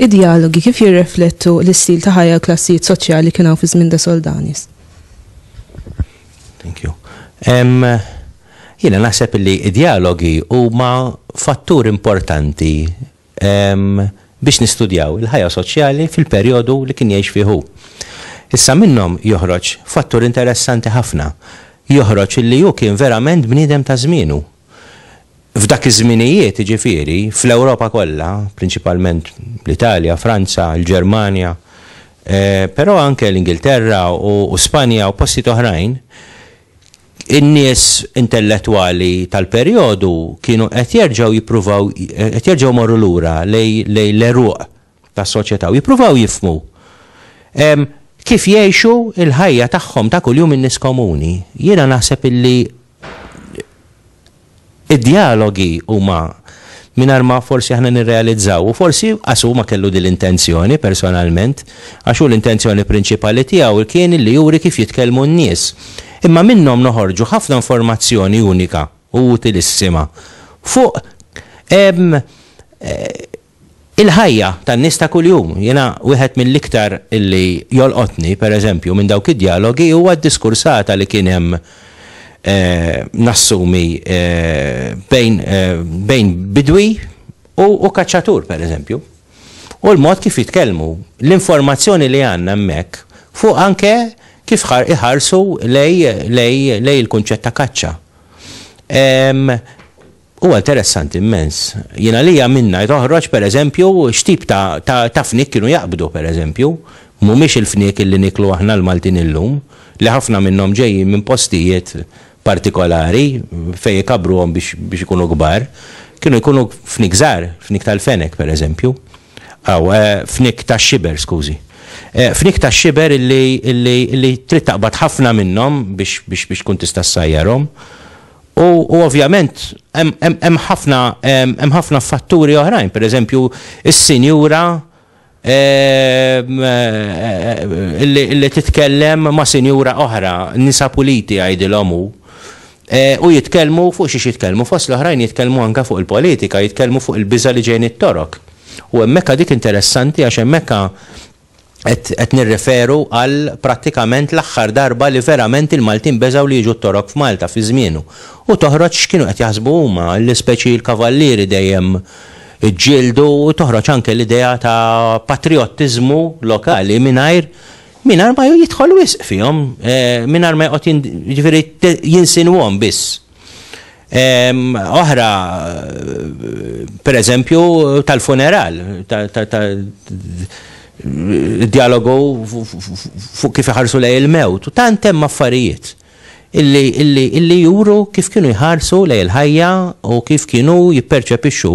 Id-dialogi kif jirreflettu l-istil ta' ħajja klassijiet soċjali kien hawn fi żmien da Soldanis? Thank you. Um, Jiena naħseb li id-dialogi huma fattur importanti biex nistudjaw il-ħajja soċjali fil-perjodu li kien jgħix fih hu. Issa minnhom joħroġ fattur interessanti ħafna, joħroġ li hu kien verament bniedem ta' żmienu. F'dak iż-żminijiet, jiġifieri, fl-Ewropa kollha, prinċipalment l-Italja, Franza, il-Ġermanja, però anke l-Ingilterra u Spanja u postijiet oħrajn, In-nies intellettwali tal-perjodu kienu qed jerġgħu jippruvaw qed jerġgħu jmorru lura lejn l-għeruq tas-soċjetà u jippruvaw jifhmu kif jgħixu l-ħajja tagħhom ta' kuljum in-nies komuni. Jiena naħseb illi Id-djalogi huma mingħajr ma forsi aħna nirrealizzaw, u forsi qas hu ma kellu din l-intenzjoni personalment, għax hu l-intenzjoni prinċipali tiegħu kien li juri kif jitkellmu n-nies. Imma minnhom noħorġu ħafna informazzjoni unika u utilissima fuq Il-ħajja tan-nies ta' kuljum. Jiena wieħed mill-iktar li jolqotni, per eżempju, minn dawk id-djalogi huwa d-diskursata li kien hemm, nassumi, bejn bejn bidwi u u kaċċatur, per eżempju. U l-mod kif jitkellmu. L-informazzjoni li għandna hemmhekk fuq anke kif iħarsu lejn lejn lejn il-kunċett ta' kaċċa. Huwa interessanti mmens. Jien għalija minnha toħroġ pereżempju x'tip ta' ta' ta' fniek kienu jaqbdu pereżempju. Mhumiex il-fniek li nieklu aħna l-Maltin illum, li ħafna minnhom ġejjin minn postijiet partikolari fejn ikabbruhom biex biex ikunu kbar. Kienu jkunu fniek żgħar, fniek tal-fenek pereżempju. Aw, fniek tax-xiber, skużi. Fniek tax-xiber illi illi illi trid taqbad ħafna minnhom biex biex biex tkun tista' ssajjarhom. U ovvjament hemm ħafna hemm ħafna fatturi oħrajn, pereżempju s-sinjura li titkellem ma' sinjura oħra, nisa puliti jgħidilhom hu, u jitkellmu fuq xiex jitkellmu, fost l-oħrajn jitkellmu anke fuq il-politika, jitkellmu fuq il-biża' li ġej mit-Torok. U hemmhekk dik interessanti għax hemmhekk qed nirreferu għal prattikament l-aħħar darba li verament il-Maltin beżgħu li jiġu t-Torok f'Malta fi żmienu. U toħroġ x'kienu qed jaħsbu huma, li speċi l-kavallieri dejjem iġġieldu u toħroġ anke l-idea ta' patrijottiżmu lokali mingħajr mingħajr ma jidħol wisq fihom, mingħajr ma joqgħod jiġifieri jinsinwhom biss. Oħra, per eżempju, tal-funeral, dialogu fuq kif iħarsu lej il-mewt, u tant hemm affarijiet illi juru kif kienu jħarsu lej il-ħajja u kif kienu jipperċepixxu